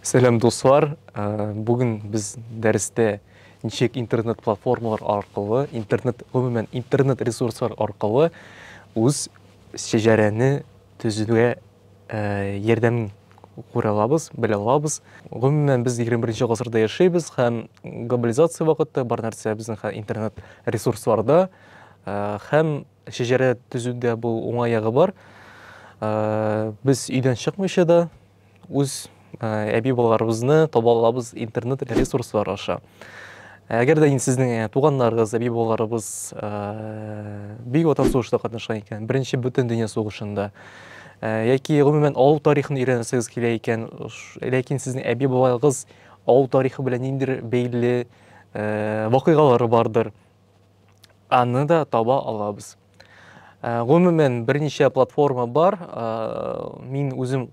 Сәлам дуслар. Э, Бүген без дәрестә ничек интернет платформалар аркылы, интернет гомумән интернет ресурслар аркылы үз шәҗәрәне төзүгә э, ярдәм күрә алабыз, белә алабыз. Гомумән без 21 гасырда яшәйбез һәм глобализация вакытта бар нәрсә безнең интернет ресурсларда э, һәм Шәҗәрә төзүдә бу уңай ягы бар. Без өйдән чыкмыйча да үз әби балаларыбызны таба алабыз интернет ресурслары аша. Әгәр дә инде сезнең туганнарыгыз, әби балаларыбыз бик ватан сугышында катнашкан икән, беренче бөтен дөнья сугышында яки гомумән авыл тарихын өйрәнәсегез килә икән, ләкин сезнең әби балаларыгыз авыл тарихы белән ниндидер бәйле вакыйгалары бардыр. аны да таба алабыз. Ә, гомумән, берничә платформа бар. Ә, мин үзем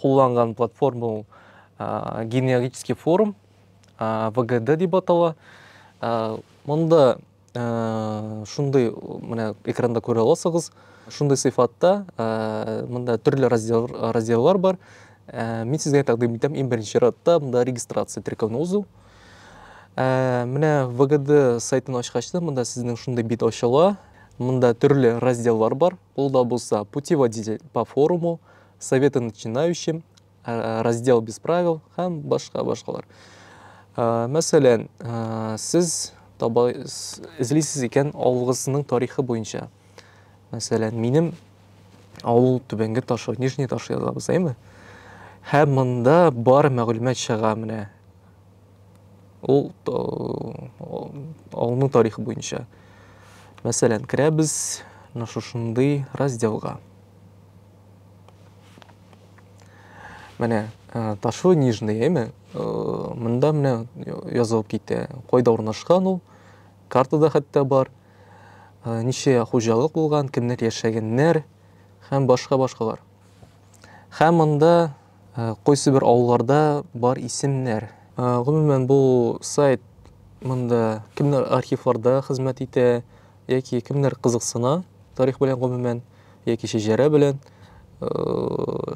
кулланган платформа ул ә, генеалогический форум, ә, ВГД дип атала. Ә, монда ә, шундый, менә экранда күрә аласыгыз, шундый сыйфатта, ә, монда төрле раздел, разделлар бар. Ә, мин сезгә тәкъдим итәм, иң беренче радта монда регистрация, теркәүне узу. Ә, менә ВГД сайтын ачкач та, монда сезнең шундый бит ачыла. Монда төрле разделлар бар. Ул да булса путеводитель по форуму, советы начинающим, ә, раздел без правил һәм башка башкалар. Ә, мәсәлән, ә, сез таба эзлисез икән авылыгызның тарихы буенча. Мәсәлән, минем Авыл түбәнге ташы, нижний ташы язабыз, әйме? Һәм монда бар мәгълүмат чыга менә. Ул авылның тарихы буенча. Мәсәлән, керәбез менә шушындый разделга. Менә э, ташлы нижний, әйме? Э, монда менә язылып китә. Кайда урнашкан ул? Картада хәтта бар. ничә хуҗалык булган, кемнәр яшәгәннәр һәм башка-башкалар. Һәм монда кайсы бер авылларда бар исемнәр. Гомумән бу сайт монда кемнәр архивларда хезмәт итә яки кемнәр кызыксына тарих белән гомумән яки шәҗәрә белән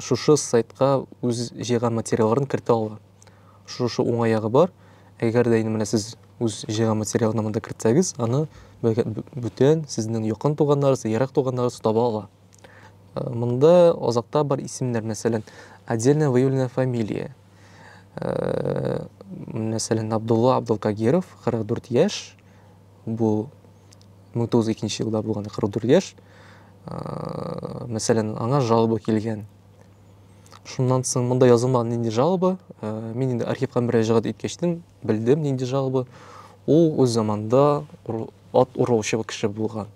шушы сайтка үз җыйган материалларын кертә ала. Шушы уңаягы бар. Әгәр дә инде менә сез үз җыйган материалны монда кертсәгез, аны бүтән сезнең якын туганнарыгыз, ерак туганнарыгыз таба ала. Э, монда азакта бар исемнәр, мәсәлән, отдельно выявленная фамилия. Э, мәсәлән, Абдулла Абдулкагиров, 44 яшь, бу 1902 елда булган 44 яшь. Э, мәсәлән, аңа жалоба килгән. Шуннан соң монда язылмаган нинди жалоба, э, мин инде архивка мөрәҗәгать иткәчтен белдем нинди жалоба. Ул үз заманда ат урылучы кеше булган.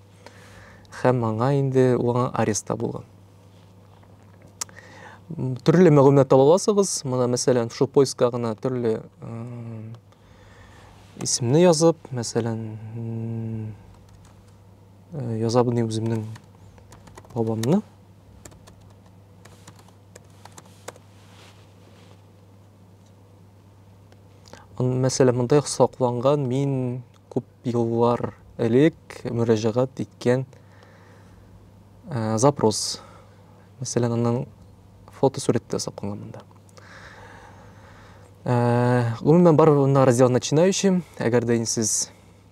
Һәм аңа инде аңа арест табылган. Төрле мәгълүмат таба аласыгыз. Менә мәсәлән, шул поиска гына төрле исемне язып, мәсәлән, э, язабын үземнең бабамны. Мәсәлән, монда сакланган мин күп еллар элек мөрәҗәгать иткән ә, запрос. Мәсәлән, аның фотосурәте дә сакланган монда. Ә, гомумән, бар монда раздел начинающим, әгәр дә сез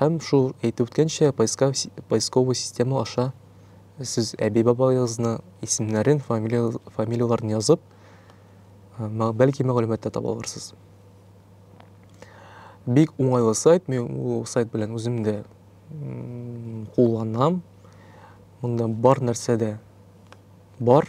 Һәм шул, әйтеп үткәнчә, поисковый система аша сез әби-бабагызны исемнәрен, фамилияләрен язып, бәлки мәгълүмат та таба алырсыз. Бик уңайлы сайт, мин ул сайт белән үзем дә кулланам. Монда бар нәрсә дә бар.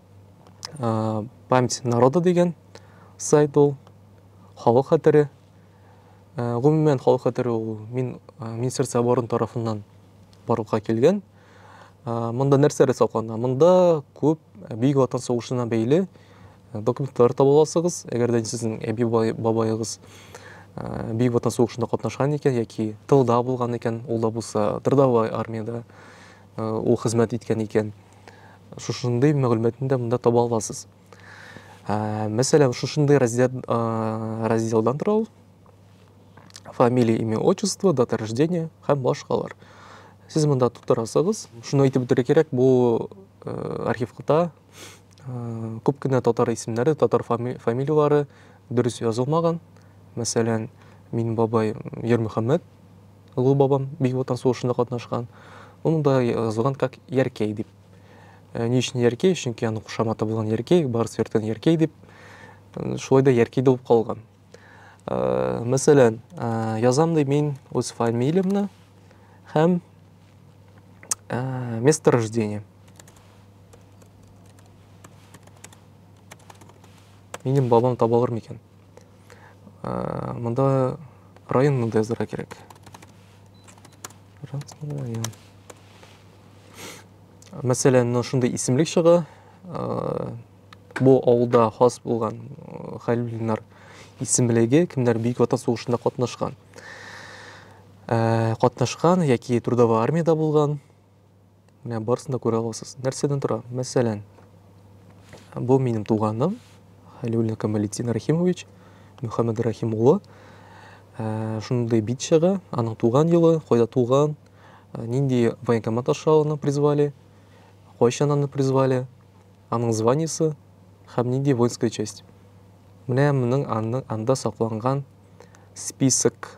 память народа дигән сайт ул халык хәтере гомумән халык хәтере ул мин министерство обороны тарафыннан барлыкка килгән монда нәрсәләр саклана монда күп бөек ватан сугышына бәйле документлар таба аласыгыз әгәр дә сезнең әби бабаегыз бөек ватан сугышында катнашкан икән яки тылда булган икән ул да булса трудовой армиядә ул хезмәт иткән икән. Шушындый мәгълүматны да монда таба аласыз. Мәсәлән, шушындый раздел разделдан тора ул. Фамилия, имя, отчество, дата рождения һәм башкалар. Сез монда тутырасыгыз. Шуны әйтеп үтәргә кирәк, бу архивта күп кенә татар исемнәре, татар фамилияләре дөрес язылмаган. Мәсәлән, мин бабай Ермөхәммәт Олы бабам Бөек Ватан сугышында катнашкан. Аны да язылган как Яркей дип. Э, ни өчен Яркей? Чөнки аның кушаматы булган Яркей, барысы йөрткән Яркей дип. Э, шулай да Яркей булып калган. Э, мәсәлән, язам ди мин үз фамилиямне һәм место рождения. Минем бабам табалыр микән? Монда район монда язырга кирәк. Район. Мәсәлән, мына шундый исемлек чыга. Бу авылда хас булган Хәлилнар исемлеге, кемнәр Бөек Ватан сугышында катнашкан. Катнашкан яки трудовой армиядә булган. Менә барысын да күрә аласыз. Нәрсәдән тора? Мәсәлән, бу минем туганым Хәлиуллин Камалетдин Рахимович, Мөхәммәд Рахим улы. Ә, шундый бит чыга, аның туган елы, кайда туган, ә, нинди военкомат аша аны призвали, кайчан аны призвали, аның званиесе һәм нинди воинская часть. Менә моның анда сакланган список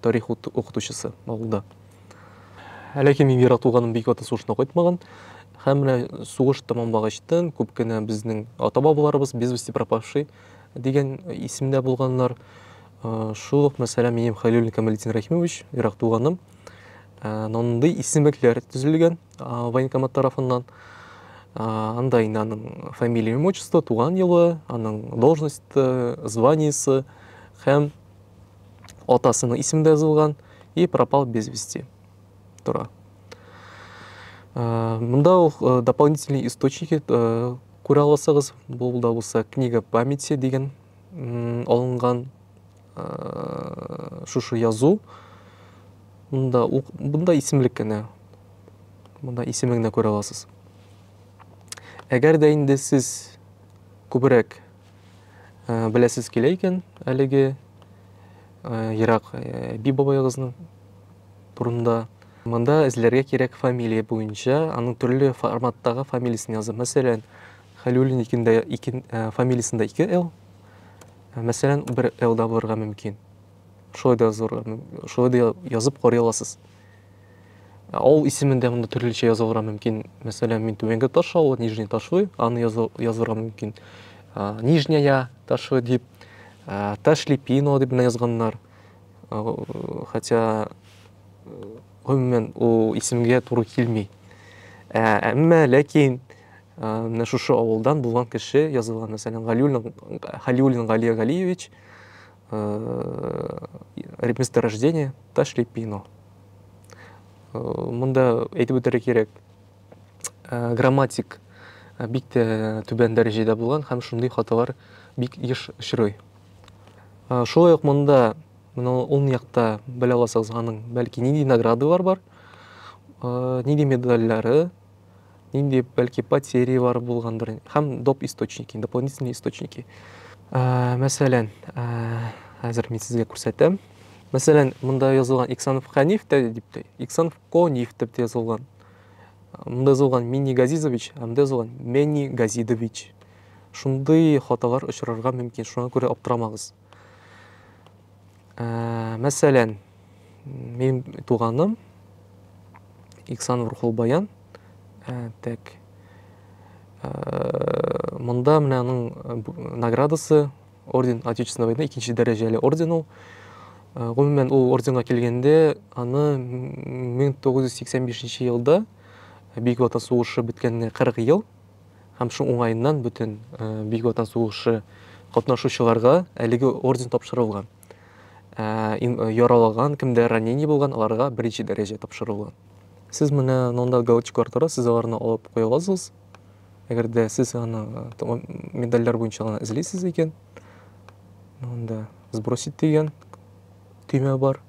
тарих укытучысы авылда. Әлеге мин Вера туганым бик аты сугышына кайтмаган. Һәм менә сугыш тәмамлагачтын күп кенә безнең ата-бабаларыбыз без вести пропавший дигән исемдә булганнар. Э, шул ук мәсәлән минем Хәлилуллин Камалетдин Рахимович, ерак туганым. Э, Нандый исемлекләр төзелгән военкомат тарафыннан. Э, анда инде аның фамилия, имя, отчество, туган елы, аның должность, званиесе һәм Атасының исемендә язылган и пропал без вести тора. Э, Мында ул э, дополнительный источники э, күрә аласыгыз. Бу да булса книга памяти дигән алынган шушы язу. Мында бунда исемлек кенә. Мында исемегенә күрә аласыз. Әгәр дә инде сез күбрәк Ә, беләсез килә икән әлеге ә, ерак ә, би бабаегызның турында. Монда эзләргә кирәк фамилия буенча, аның төрле форматтагы фамилиясен язып. Мәсәлән, Хәлиуллин икендә икен ә, фамилиясендә 2 Л. Ә, Мәсәлән, бер Л да булырга мөмкин. Шулай да язырга, мөм- шулай да я- язып карый аласыз. Авыл исемен дә монда төрлечә язылырга мөмкин. Мәсәлән, мин Түбәнге Таш авылы, Нижний Ташлы, аны язырга мөмкин. Нижняя Ташлы дип, Ташлипино дип менә язганнар. Хотя гомумән ул исемгә туры килми. Әмма ләкин менә шушы авылдан булган кеше язылган, мәсәлән, Галиуллин, Галиуллин Галия Галиевич месторождение Ташлепино. Монда әйтеп үтәргә кирәк, грамматик бик тә түбән дәрәҗәдә булган һәм шундый хаталар бик еш очрый. Шулай ук монда менә ул якта белә аласыз аның бәлки нинди наградалар бар, нинди медальләре, нинди бәлки потерялар булгандыр һәм доп источники дополнительные источники ә, мәсәлән ә, хәзер мин сезгә күрсәтәм мәсәлән монда язылган иксанов хәниф тә дип тә иксанов кониф дип тә язылган монда язылган мини газизович ә монда язылган мени газидович шундый хаталар очрарга мөмкин шуңа күрә аптырамагыз Ә, мәсәлән, минем туганым Иксан Урхулбаян, ә, тәк, ә, монда менә аның наградасы орден Отечественной войны, икенче дәрәҗәле орден ул. Э, гомумән ул орденга килгәндә аны 1985 елда бөек ватан сугышы беткәненә 40 ел һәм шуның уңаеннан бөтен Бөек Ватан сугышы катнашучыларга әлеге орден тапшырылган. Яралаган, кемдә ранение булган, аларга беренче дәрәҗә тапшырылган. Сез менә монда галочкалар тора, сез аларны алып куя аласыз. Әгәр дә сез аны медальләр буенча гына эзлисез икән, монда сбросить дигән төймә бар.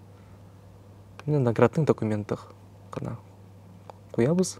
Менә наградның документах кына куябыз.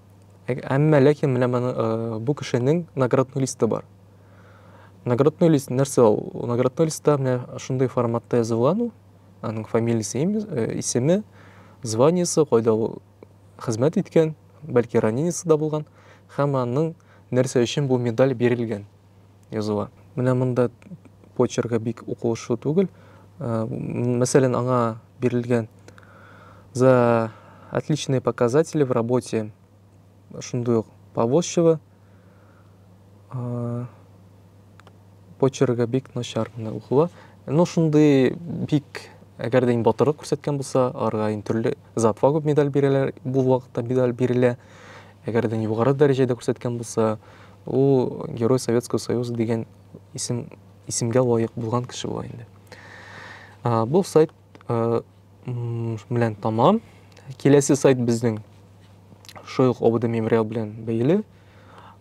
Әмма ләкин менә моны бу кешенең наградной листы бар. Наградной лист нәрсә ул? Наградной листта менә шундый форматта язылган ул. Аның фамилиясе, исеме, званиесе, кайда ул хезмәт иткән, бәлки ранениесе дә булган һәм аның нәрсә өчен бу медаль бирелгән. языла. Менә монда почерга бик укылышлы түгел. Э, мәсәлән, аңа бирелгән за отличные показатели в работе шундый ук Повозчева э, почерга бик начар менә укыла. Ну, шундый бик әгәр дә батырлык күрсәткән булса, аларга төрле за отвагу медаль бирәләр, бу вакытта медаль бирелә. Әгәр дә югары дәрәҗәдә күрсәткән булса, ул Герой Советского Союза дигән исем, исемгә лаек булган кеше була инде. Бу сайт белән тамам. Киләсе сайт безнең шул ук ОБД мемориал белән бәйле.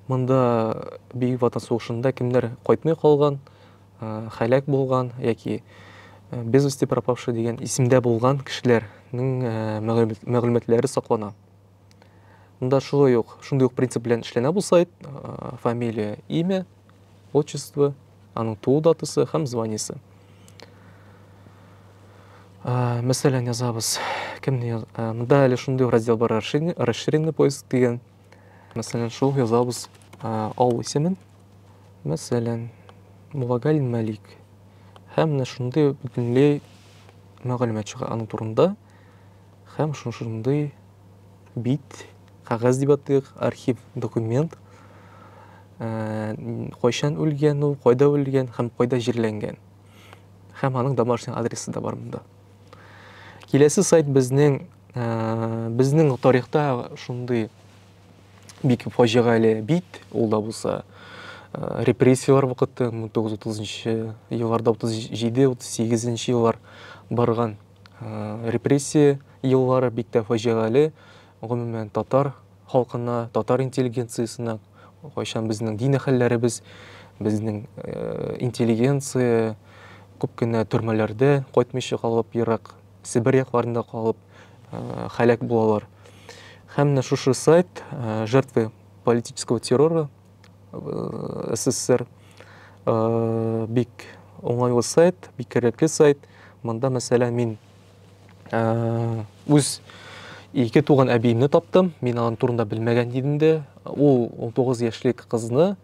Монда Бөек Ватан сугышында кемнәр кайтмый калган, хәлак булган яки без вести пропавшие дигән исемдә булган кешеләрнең мәгълүматлары саклана. Монда шулай ук, шундый ук принцип белән эшләнә бу сайт. Фамилия, имя, отчество, аның туу датасы һәм званиесе. Мәсәлән, язабыз. Кемне монда әле шундый раздел бар, расширенный поиск дигән. Мәсәлән, шул язабыз авыл исемен. Мәсәлән, Мулагаль Мәлик. Һәм менә шундый бөтенләй мәгълүмат чыга аның турында. Һәм шушындый бит, кәгазь дип атыйк, архив документ, кайчан үлгән ул, кайда үлгән һәм кайда җирләнгән. Һәм аның домашний адресы да бар монда. Киләсе сайт безнең безнең тарихта шундый бик фаҗигале бит, ул да булса репрессияләр вакыты 1930 елларда 37-38 еллар барган Репрессия еллары бик тә фаҗигале, гомумән, татар халкына, татар интеллигенциясенә кайчан безнең дин әһелләребез, безнең интеллигенция күп кенә төрмәләрдә кайтмыйча калып, ерак Себер якларында калып һәлак булалар. Һәм менә шушы сайт жертвы политического террора э, СССР. Э, бик уңайлы сайт, бик кирәкле сайт. Монда, мәсәлән, мин э, үз ике туган әбиемне таптым. Мин аның турында белмәгән идем дә. Ул 19 яшьлек кызны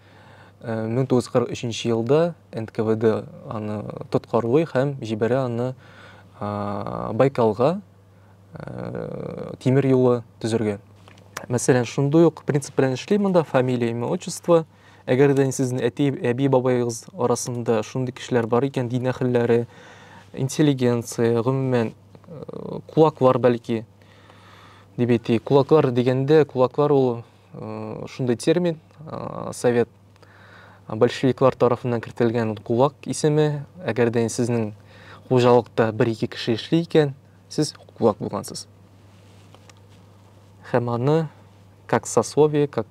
1943 э, елда НКВД аны тоткарлый һәм җибәрә аны Байкалга тимер юлы төзергә. Мәсәлән, шундый ук принцип белән эшли монда фамилия, имя, отчество. Әгәр дә сезнең әти, әби, бабайыгыз арасында шундый кешеләр бар икән, дин әһелләре, интеллигенция, гомумән, кулаклар бәлки, дип әйтик. Кулаклар дигәндә, кулаклар ул шундый термин, совет большевиклар тарафыннан кертелгән кулак исеме әгәр дә сезнең хуҗалыкта бер ике кеше эшли икән сез кулак булгансыз һәм аны как сословие как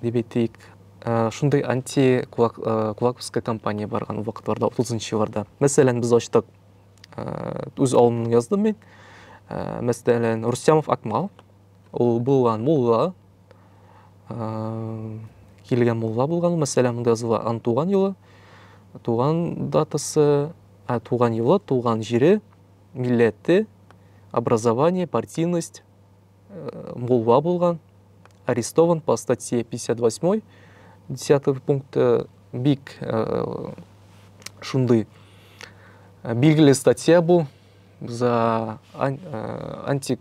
дип әйтик э, шундый анти кулак э, кулаковская компания барган ул вакытларда отызынчы елларда мәсәлән без ачтык э, үз авылымны яздым мин мәсәлән рустямов акмал Ул булган мулла, килгән мулла булган, мәсәлән, монда языла ан туган елы, туган датасы, ә туган елы, туган җире, милләте, образование, партийность, э, мулла булган, арестован по статье 58, 10 пункт э, бик э, шундый билгеле статья бу за антик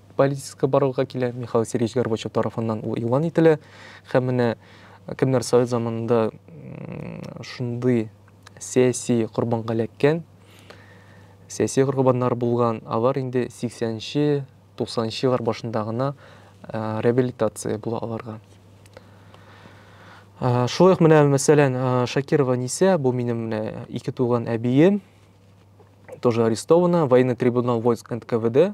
политическа барлыкка килә, Михаил Сергеевич Горбачев тарафыннан ул игълан ителә. Һәм менә кемнәр совет заманында шундый сәяси корбанга эләккән, сәяси корбаннар булган, алар инде 80-нче, 90-нчы еллар башында гына реабилитация була аларга. Шулай ук менә, мәсәлән, Шакирова Нисә, бу минем менә ике туган әбием, тоже арестована, военный трибунал войск НКВД,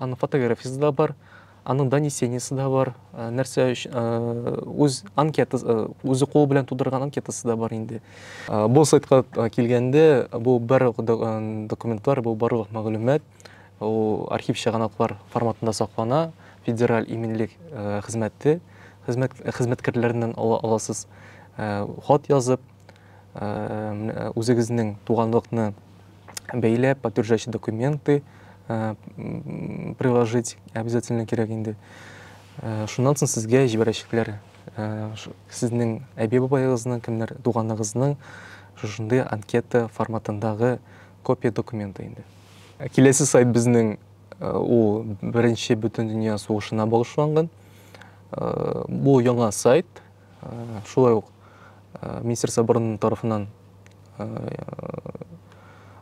Аның фотографиясе дә бар, аның донесениесе дә бар, э, нәрсә өчен э, үз анкетасы, э, үзе кулы белән тудырган анкетасы да бар инде. Бу сайтка килгәндә, бу барлык документлар, бу барлык мәгълүмат ул архив чыганаклар форматында саклана, федераль иминлек хезмәте хезмәт хезмәткәрләреннән аласыз хат язып, үзегезнең туганлыкны бәйләп, подтверждающий документы э, приложить обязательно кирәк инде. Э, шуннан соң сезгә җибәрәчәкләр. Э, сезнең әби-бабаегызның, кемнәр туганыгызның шушындый анкета форматындагы копия документы инде. Киләсе сайт безнең ул беренче бөтен дөнья сугышына багышланган. Бу яңа сайт, Шулай ук Министр Сабырның тарафыннан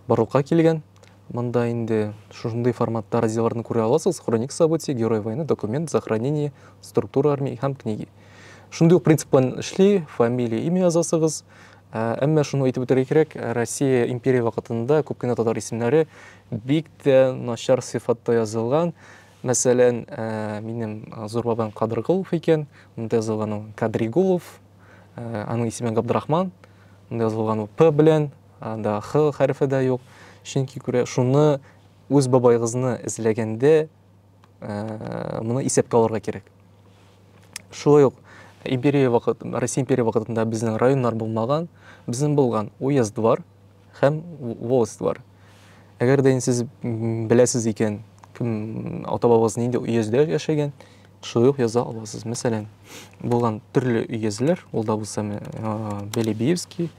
барлыкка килгән. Монда инде шушындый форматта разделларны күрә аласыз. Хроник событий, герой войны, документ, захоронение, структура армии һәм книги. Шундый ук принцип белән эшли, фамилия, имя язасыгыз. Ә, әмма шуны әйтеп үтәргә кирәк, Россия империя вакытында күп кенә татар исемнәре бик тә начар сыйфатта язылган. Мәсәлән, минем зур бабам Кадыргулов икән, монда язылган ул Кадригулов, аның исеме Габдрахман, монда язылган ул П белән, анда Х хәрефе дә юк. Чөнки күрә шуны үз бабайгызны эзләгәндә моны исәпкә алырга кирәк. Шулай ук империя вакыт, Россия империя вакытында безнең районнар булмаган, безнең булган уездвар, Һәм волость бар. Әгәр дә сез беләсез икән, кем ата-бабагыз нинди өездә яшәгән, шулай ук яза аласыз. Мәсәлән, булган төрле өезләр, ул да булса Белебиевский,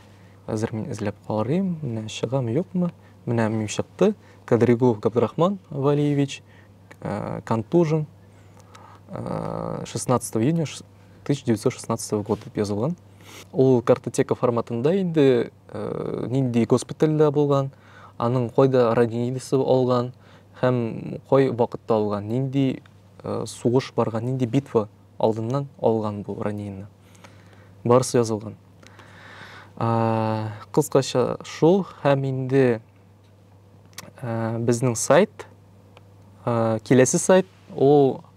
хәзер мин эзләп карыйм, менә чыгам юкмы, менә мин чыкты, Кадригулов Габдрахман Валиевич, контужен, 16 июня 1916 год дип язылган. Ул картотека форматында инде э, нинди госпитальдә булган, аның кайда ранениесе алган һәм кай вакытта алган, нинди э, сугыш барган, нинди битва алдыннан алган бу ранениене. Барысы язылган. Кыскача шул һәм инде э, безнең сайт, киләсе сайт, ул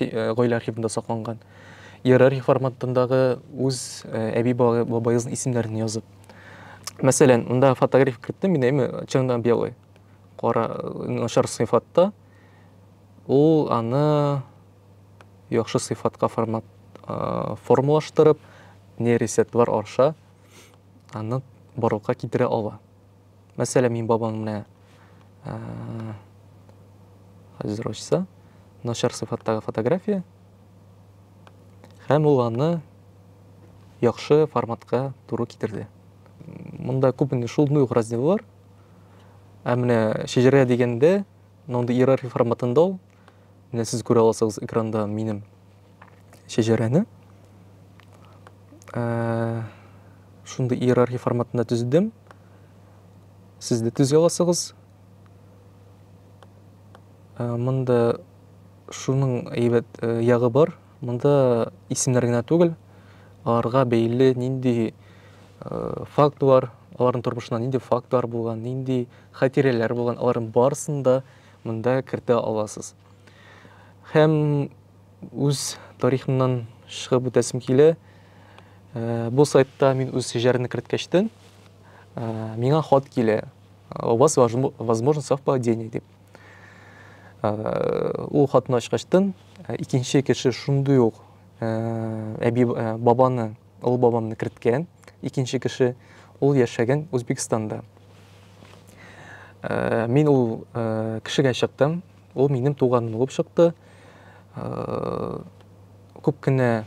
гаилә архивында сакланган иерархия форматындагы үз әби бабаегызның исемнәрен язып мәсәлән монда фотография керттем мин әйме чынында белый кара начар сыйфатта ул аны яхшы сыйфатка формат формалаштырып нейросетлар аша аны барлыкка китерә ала Мәсәлән, мин бабам менә хәзер ачса, начар сыйфаттагы фотография. Һәм ул аны яхшы форматка туры китерде. Монда күп инде шул нуй раздел бар. Ә менә шәҗәрә дигәндә, мондый иерархия форматында ул, Менә сез күрә аласыгыз экранда минем шәҗәрәне. Ә, шундый иерархия форматында төзедем. Сез дә төзи аласыгыз. Ә, монда шуның әйбәт э, ягы бар. Монда исемнәр генә түгел, аларга бәйле нинди э, фактлар, аларның тормышында нинди фактлар булган, нинди хатирәләр булган, аларның барысын да монда кертә аласыз. Һәм үз тарихымнан чыгып үтәсем килә. Э, бу сайтта мин үз җырны керткәчтен, э, миңа хат килә. У вас возможно совпадение дип. Э, ул хатны ачкачтын, икенче кеше шундый ук әби бабаны олы бабамны керткән, икенче кеше, ул яшәгән Үзбекстанда. Э, мин ул э, кешегә чыктым, ул минем туганым булып чыкты. Э, күп кенә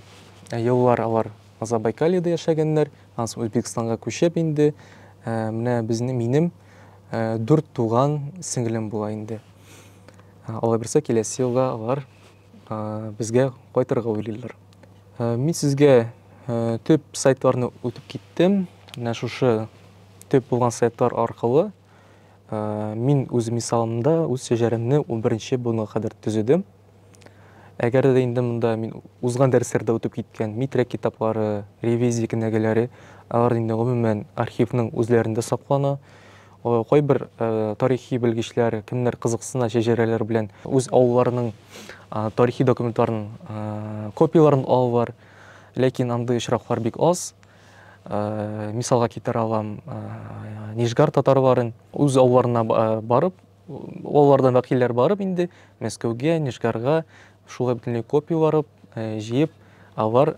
еллар алар Азабайкалиядә яшәгәннәр, аннан Үзбекстанга күчеп инде, менә безнең минем дүрт туган сеңлем була инде. Алай берсе киләсе елга алар Безгә кайтырга уйлыйлар. Мин сезгә төп сайтларны үтеп киттем. Менә шушы төп булган сайтлар аркылы мин үз мисалымда үз шәҗәрәмне 11-нче буынга кадәр төзедем. Әгәр дә инде монда мин узган дәресләрдә үтеп киткән метрик китаплары, ревизия кенәгәләре, алар инде гомумән архивның үзләрендә саклана. Кайбер тарихи белгечләр, кемнәр кызыксына, шәҗәрәләр белән үз авылларының тарихи документларын, копияләрен алалар. Ләкин андый очраклар бик аз. Мисалга китерә алам Нижгар татарларын. Үз авылларына барып, авыллардан вәкилләр барып инде Мәскәүгә, Нижгарга шулай бөтенләй копия барып, җыеп алар